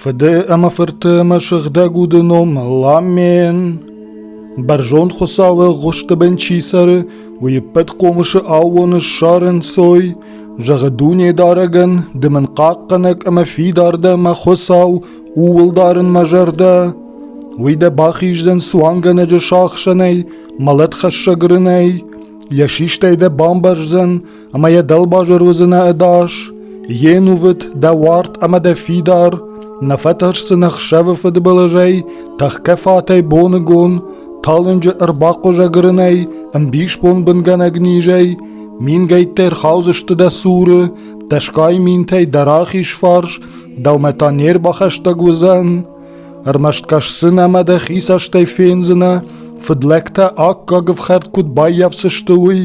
Фыды ӕмӕ фырты ӕмӕ сыгъдӕг уды ном Ламмен. Бӕрзонд Хуыцауы ӕгъуысты бын чи цӕры, уый ӕппӕт хъомысы аууоны ссар ӕнцой, зӕгъы Дунедарӕгӕн, ды мын хъахъхъӕнӕг ӕмӕ фидар дӕ, мӕ Хуыцау, ууыл дарын мӕ зӕрдӕ. Уый дӕ бахиздзӕн цуангӕнӕджы сахсӕнӕй, мӕлӕтхӕссӕг рынӕй, йӕ систӕй дӕ бамбӕрздзӕн, ӕма е дӕлбазар уодзӕнӕ ӕдас, е нувид дӕ уарт ӕма дӕ фидар, нӕ фӕтӕрсдзӕнӕ хсӕвы фӕдбӕлӕзӕй тӕхгӕ фатӕй бонигон, талынджы ӕрбахъозӕгрынӕй ӕмбисбон бынгӕнӕг низӕй, мингӕйттӕ ӕрхаудзысты дӕ цуры, дӕсгай минтӕй дӕ рахиз фарс дӕумӕ та не рбахӕстӕг уыдзӕн. Ӕрмӕст кӕсдзынӕ ӕмӕ дӕхи цӕстӕй фендзынӕ, фыдлӕгтӕ аккаг ӕфхӕрд куыд баййафдзысты, уый.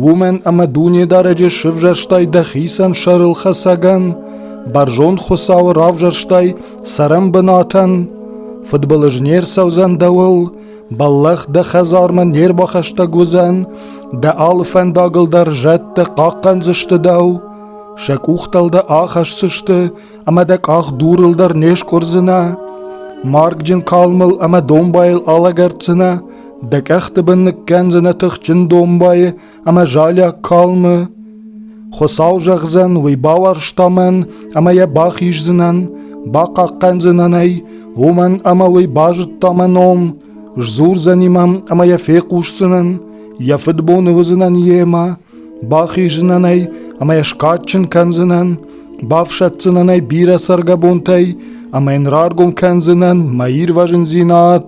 Уымӕн ӕмӕ Дунедарӕджы сывзӕрстай дӕхицӕн сӕрылхӕцӕгӕн, бӕрзонд Хуыцауы равзӕрстай цӕрӕн бынатӕн, фыдбылыз не рцӕудзӕн дӕуыл, бӕллӕх дӕ хӕдзармӕ не рбахӕстӕг уыдзӕн, дӕ алы фӕндагыл дӕр зӕдтӕ хъахъхъӕндзысты дӕу, сӕ къухтыл дӕ ахӕсдзысты ӕмӕ дӕ къах дурыл дӕр не скъуырдзынӕ, маргджын калмыл ӕмӕ домбайыл алӕгӕрддзынӕ, Дӕ къӕхты бын ныккӕндзынӕ тыхджын домбайы ӕмӕ залиаг калмы. Хуыцау зӕгъдзӕн, уый бауарзта мӕн ӕмӕ йӕ бахиздзынӕн, бахъахъхъӕндзынӕн ӕй, уымӕн ӕмӕ уый базыдта мӕ ном, сдзурдзӕни мӕм ӕмӕ йӕ фехъусдзынӕн, йӕ фыдбоны уыдзынӕн йемӕ, бахиздзынӕн ӕй ӕмӕ йӕ скадджын кӕндзынӕн, бафсӕддзынӕн ӕй бирӕ цӕргӕбонтӕй ӕмӕ йын раргом кӕндзынӕн мӕ ирвӕзындзинад.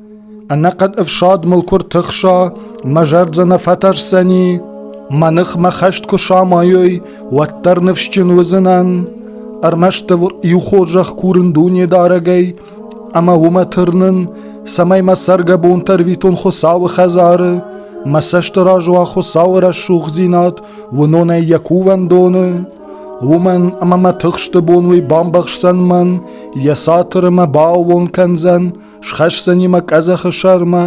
Ӕнӕхъӕн ӕфсад мыл куы ртыхса, мӕ зӕрдӕ нӕ фӕтӕрсдзӕни, мӕ ных мӕ хӕст куы самайой, уӕддӕр ныфсджын уыдзынӕн. Ӕрмӕст дӕ иу хорзӕх курын дунедарӕгӕй, ӕмӕ уымӕ тырнын, цӕмӕй мӕ цӕргӕбонтӕ ӕрвитон Хуыцауы хӕдзары, мӕ цӕсты раз уа Хуыцауы рӕсугъддзинад, уынонӕй йӕ кувӕндоны. Уымӕн ӕмӕ мӕ тыхсты бон уый бамбӕхсдзӕн мӕн, йӕ цатыры мӕ бааууон кӕндзӕн Схӕсдзӕни мӕ къӕдзӕхы сӕрмӕ,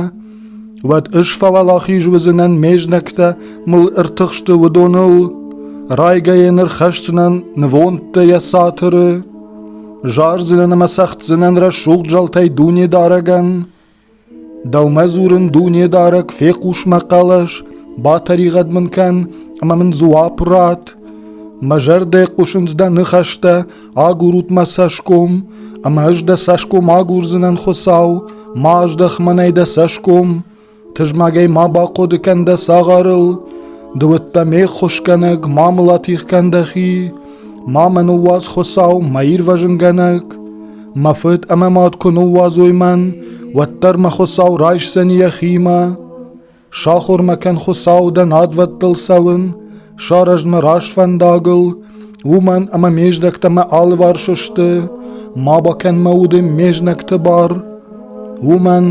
уӕд ӕз фӕуӕлахиз уыдзынӕн ме знӕгтӕ мыл ӕртыхсты уыдоныл, райгӕйӕ ныр хӕсдзынӕн нывондтӕ йӕ цатыры, зардзынӕн ӕмӕ цӕгъддзынӕн рӕсугъд зӕлтӕй Дунедарӕгӕн. Дӕумӕ дзурын, Дунедарӕг, фехъус мӕ хъӕлӕс, батӕригъӕд мын кӕн ӕмӕ мын дзуапп ратт. Мӕ зӕрдӕ хъуысынц дӕ ныхӕстӕ Агурут мӕ цӕсгом, ӕмӕ ӕз дӕ цӕсгом агурдзынӕн, Хуыцау, ма аздӕх мӕнӕй дӕ цӕсгом, тызмӕгӕй ма бахъуыды кӕн дӕ цагъарыл, ды уыдтӕ ме ххуысгӕнӕг, ма мыл атигъ кӕн дӕхи, ма мӕ ныууадз, Хуыцау, мӕ ирвӕзынгӕнӕг, мӕ фыд ӕмӕ мад куы ныууадзой мӕн, уӕддӕр мӕ Хуыцау райсдзӕни йӕхимӕ. Сахуырмӕ кӕн Хуыцаудӕн адвӕдтыл цӕуын, саразт мӕ раст фӕндагыл, уымӕн ӕмӕ ме знӕгтӕ мӕ алыварс сты, ма бакӕн мӕ уды ме знӕгты бар, уымӕн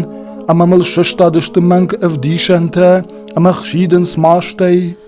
ӕмӕ мыл сыстадысты мӕнг ӕвдисӕнтӕ ӕмӕ хсидынц мастӕй.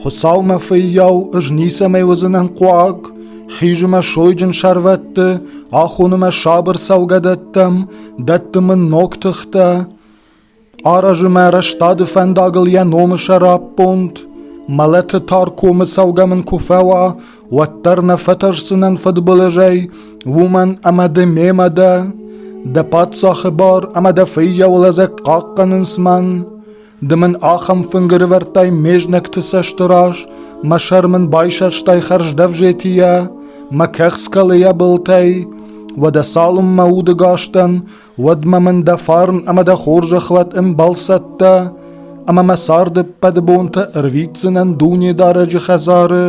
Хуыцаумӕ фыййау ӕз ницӕмӕй уыдзынӕн хъуаг, хизы мӕ сойджын сӕрвӕтты, ахоны мӕ сабыр цӕугӕдӕттӕм, дӕтты мын ног тыхтӕ, аразы мӕ рӕстады фӕндагыл йӕ номы сӕраппонд. Мӕлӕты тар комы цӕугӕ мын куы фӕуа, уӕддӕр нӕ фӕтӕрсдзынӕн фыдбылызӕй, уымӕн ӕмӕ ды мемӕ дӕ. Дӕ паддзахы бар ӕмӕ дӕ фыййауы лӕдзӕг хъахъхъӕнынц мӕн. Ды мын ахӕм фынг ӕрывӕрдтай ме знӕгты цӕсты раз, мӕ сӕр мын байсӕрстай хӕрздӕвзетийӕ, мӕ кӕхц кӕлыйӕ былтӕй, уӕдӕ цалынмӕ удыгӕстӕн, уӕдмӕ мын дӕ фарн ӕмӕ дӕ хорзӕхвӕд ӕмбӕлцӕттӕ ӕмӕ мӕ царды ӕппӕт бонтӕ ӕрвитдзынӕн Дунедарӕджы хӕдзары.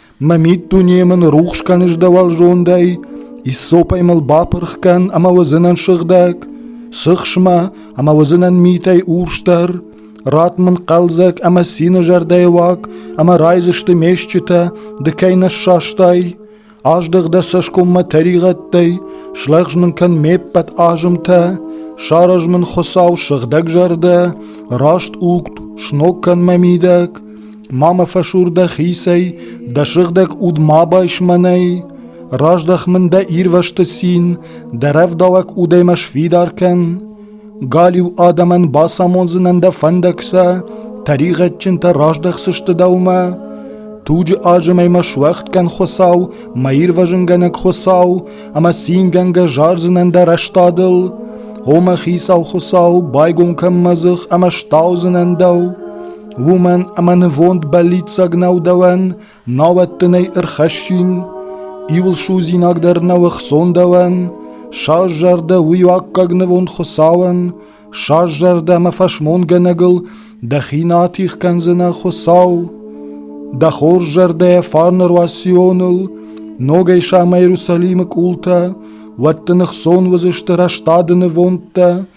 Мӕ миддуне мын рухс кӕныс дӕуӕл зондӕй, Иссопӕй мыл бапырх кӕн ӕмӕ уыдзынӕн сыгъдӕг, Сыхсмӕ ӕмӕ уыдзынӕн митӕй урсдӕр. Ратт мын хъӕлдзӕг ӕмӕ цины зӕрдӕйы уаг, Ӕмӕ райдзысты ме стджытӕ, ды кӕй нӕ ссастай. Аздӕх дӕ цӕсгоммӕ тӕригъӕдтӕй, слӕгъз мын кӕн ме ппӕт азымтӕ, Сарӕз мын, Хуыцау, сыгъдӕг зӕрдӕ, раст угд, сног кӕн мӕ мидӕг. Ма мӕ фӕсур дӕхицӕй, дӕ сыгъдӕг уд ма байсмӕнӕй, раздӕх мын дӕ ирвӕзты цин, дӕ рӕвдауӕг удӕй мӕ сфидар кӕн. Галиу адӕмӕн бацамондзынӕн дӕ фӕндӕгтӕ, тӕригъӕдджынтӕ раздӕхдзысты дӕумӕ. Туджы азымӕй мӕ суӕгъд кӕн, Хуыцау, мӕ ирвӕзынгӕнӕг Хуыцау, ӕмӕ цингӕнгӕ зардзынӕн дӕ рӕстадыл. О, мӕ хицау Хуыцау, байгом кӕн мӕ дзых ӕмӕ стаудзынӕн дӕу. Уомӕн ӕма нивонд бӕллиццаг нӕу дӕуӕн, науӕд дын ӕй ӕрхӕссин, ивылсудзинаг дӕр нӕу ӕхцон дӕуӕн, сӕззӕрдӕ уый у аккаг нивонд Хуцауӕн, сӕззӕрдӕ ӕма фӕсмонгӕнӕгыл дӕхи нӕ атих кӕндзӕнӕ Хуцау. Дӕ хорз зӕрдӕ фарнӕруасионыл, ногӕй сӕ ӕма Иерусалимы къултӕ, уӕд дын ӕхцон уыдзысты рӕстады нывондтӕ,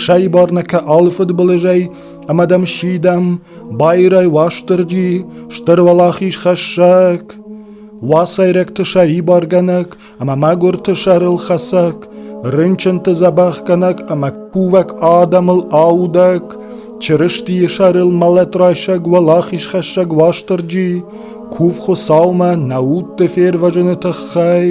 Сӕрибар нӕ кӕ алы фыдбылызӕй ӕмӕ дӕм сидӕм Баирӕй Уастырджи, Стыр уӕлахизхӕссӕг. Уацайрӕгты сӕрибаргӕнӕг ӕмӕ мӕгуырты сӕрылхӕцӕг, рынчынты дзӕбӕхгӕнӕг ӕмӕ кувӕг адӕмыл аудӕг, Чырыстийы сӕрыл мӕлӕт райсӕг уӕлахизхӕссӕг Уастырджи, кув Хуыцаумӕ нӕ удты фервӕзыны тыххӕй.